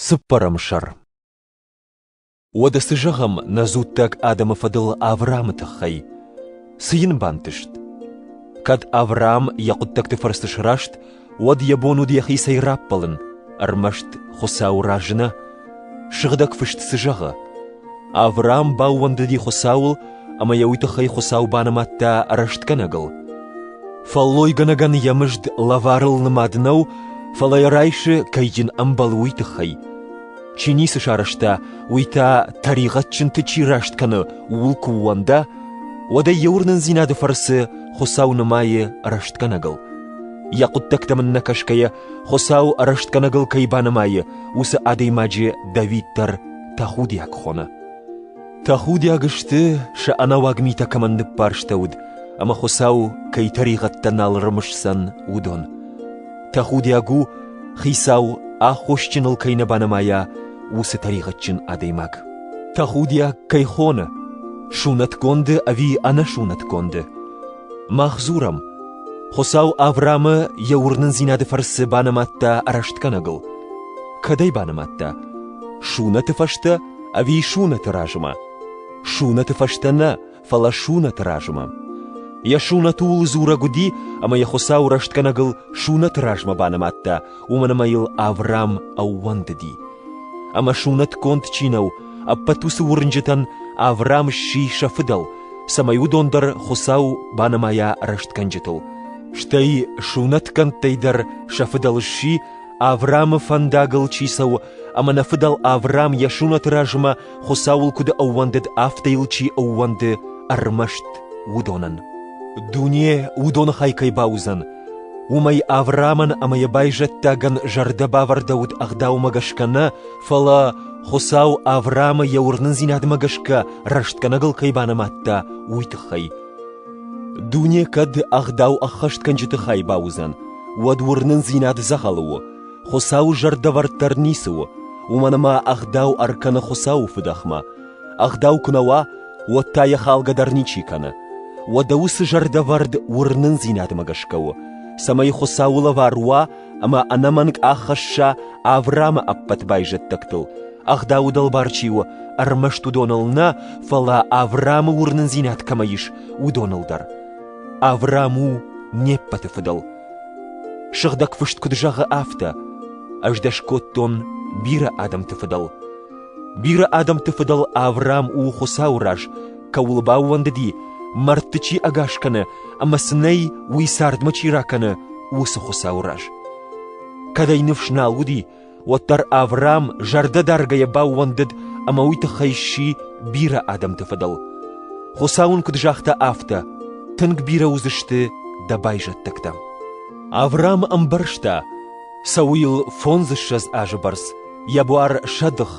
Цыппӕрӕм сӕр Уӕдӕ цы зӕгъӕм нӕ дзуттаг адӕмы фӕдыл Авраамы тыххӕй? Цы йын бантыст? Кӕд Авраам йӕ хъуыддӕгты фӕрцы сраст, уӕд йӕ бон уыд йӕхицӕй раппӕлын, ӕрмӕст Хуыцау разы нӕ? Сыгъдӕг Фыст цы зӕгъы? Авраам баууӕндыди Хуыцауыл ӕмӕ йӕ уый тыххӕй Хуыцау банымадта рӕстгӕнӕгыл. Фӕллойгӕнӕгӕн йӕ мызд лӕварыл нымад нӕу, фӕлӕ йӕ райсы кӕйджын ӕмбал уый тыххӕй. Чи ницы сарӕзта, уый та тӕригъӕдджынты чи раст кӕны, ууыл куы ууӕнда, уӕд ӕй йӕ уырнындзинады фӕрцы Хуыцау нымайы рӕстгӕнӕгыл. Йӕ хъуыддӕгтӕм ын нӕкӕсгӕйӕ, Хуыцау рӕстгӕнӕгыл кӕй банымайы, уыцы адӕймаджы Давид дӕр тӕхудиаг хоны. Тӕхудиаг сты, сӕ ӕнӕуаг митӕ кӕмӕн ныппӕрстӕуыд, ӕмӕ Хуыцау кӕй тӕригъӕдтӕ нал рымысдзӕн, уыдон. Тӕхудиаг у, Хицау аххосджыныл кӕй нӕ банымайа, уыцы тӕригъӕдджын адӕймаг. Тӕхудиаг кӕй хоны, сунӕтгонды ӕви ӕнӕсунӕтгонды. Мах дзурӕм, Хуыцау Авраамы йӕ уырнындзинады фӕрцы банымадта рӕстгӕнӕгыл. Кӕдӕй банымадта? Сунӕты фӕстӕ Ӕви сунӕты размӕ? Сунӕты фӕстӕ нӕ, фӕлӕ сунӕты размӕ. Йӕ сунӕты уыл дзурӕг уыди, ӕмӕ йӕ Хуыцау рӕстгӕнӕгыл сунӕты размӕ банымадта, уымӕн ӕмӕ йыл Авраам ӕууӕндыди. Ӕмӕ сунӕтгонд чи нӕу, ӕппӕт уыцы уырнджытӕн Авраам сси сӕ фыдӕл, цӕмӕй уыдон дӕр Хуыцау банымайа рӕстгӕнджытыл. Стӕй сунӕтгӕндтӕй дӕр сӕ фыдӕл сси Аврамы фӕндагыл чи цӕуы, ӕмӕ нӕ фыдӕл Аврам йӕ сунӕты размӕ Хуыцауыл куыд ӕууӕндыд, афтӕ йыл чи ӕууӕнды ӕрмӕст уыдонӕн. Дуне уыдоны хай кӕй бауыдзӕн, уымӕй Аврамӕн ӕмӕ йӕ байзӕддагӕн зӕрдӕбавӕрдӕуыд ӕгъдаумӕ гӕсгӕ нӕ, фӕлӕ Хуыцау Аврамы йӕ уырнындзинадмӕ гӕсгӕ рӕстгӕнӕгыл кӕй банымадта, уый тыххӕй. Дуне кӕд ӕгъдау ӕххӕстгӕнджыты хай бауыдзӕн, уӕд уырнындзинад дзӕгъӕлы у, Хуыцауы зӕрдӕвӕрд дӕр ницы у, уымӕн ӕмӕ ӕгъдау ӕркӕны Хуыцауы фыдӕхмӕ. Ӕгъдау куы нӕ уа, уӕд та йӕ халгӕ дӕр ничи кӕны. Уӕдӕ уыцы зӕрдӕвӕрд уырнындзинадмӕ гӕсгӕ у, цӕмӕй Хуыцауы лӕвар уа ӕмӕ ӕнӕмӕнг аххӕсса Авраамы ӕппӕт байзӕддӕгтыл, ӕгъдауы дӕлбар чи у, ӕрмӕст уыдоныл нӕ, фӕлӕ Авраамы уырнындзинад кӕмӕ ис, уыдоныл дӕр. Авраам у не ппӕты фыдыл. Сыгъдӕг Фыст куыд зӕгъы, афтӕ: Ӕз дӕ скодтон бирӕ адӕмты фыдыл. Бирӕ адӕмты фыдӕл Авраам у Хуыцауы раз, кӕуыл баууӕндыди, мӕрдты чи ӕгас кӕны ӕмӕ цы нӕй, уый цардмӕ чи ракӕны, уыцы Хуыцауы раз. Кӕд ӕй ныфс нал уыди, уӕддӕр Авраам зӕрдӕдаргӕйӕ баууӕндыд ӕмӕ уый тыххӕй сси бирӕ адӕмты фыдӕл. Хуыцау ын куыд загъта, афтӕ: «Тынг бирӕ уыдзысты дӕ байзӕддӕгтӕ». Авраам ӕмбӕрста, Цӕуы йыл фондзыссӕдз азы бӕрц, йӕ буар сӕдых,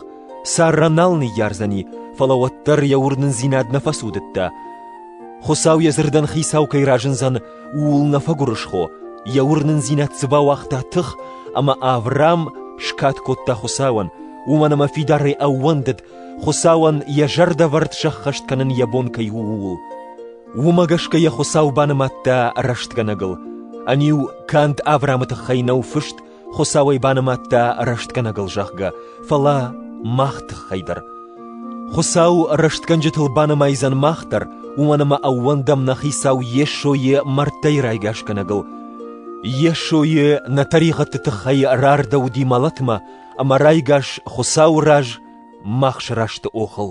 сӕрра нал ныййардзӕни, фӕлӕ уӕддӕр йӕ уырнындзинад нӕ фӕцудыдта. Хуыцау йӕ дзырдӕн хицау кӕй разындзӕн, ууыл нӕ фӕгуырысхо, йӕ уырнындзинад цы бауагъта тых, ӕмӕ Авраам скад кодта Хуыцауӕн, уымӕн ӕмӕ фидарӕй ӕууӕндыд, Хуыцауӕн йӕ зӕрдӕвӕрд сӕххӕст кӕнын йӕ бон кӕй у, ууыл. Уымӕ гӕсгӕ йӕ Хуыцау банымадта рӕстгӕнӕгыл. Ӕниу канд Авраамы тыххӕй нӕу фыст, Хуыцау ӕй банымадта рӕстгӕнӕгыл, зӕгъгӕ, фӕлӕ мах тыххӕй дӕр. Хуыцау рӕстгӕнджытыл банымайдзӕн мах дӕр, уымӕн ӕмӕ ӕууӕндӕм нӕ Хицау Йесойы мӕрдтӕй райгасгӕнӕгыл. Йесойы нӕ тӕригъӕдты тыххӕй рардӕуыди мӕлӕтмӕ, ӕмӕ райгас Хуыцауы раз мах срасты охыл.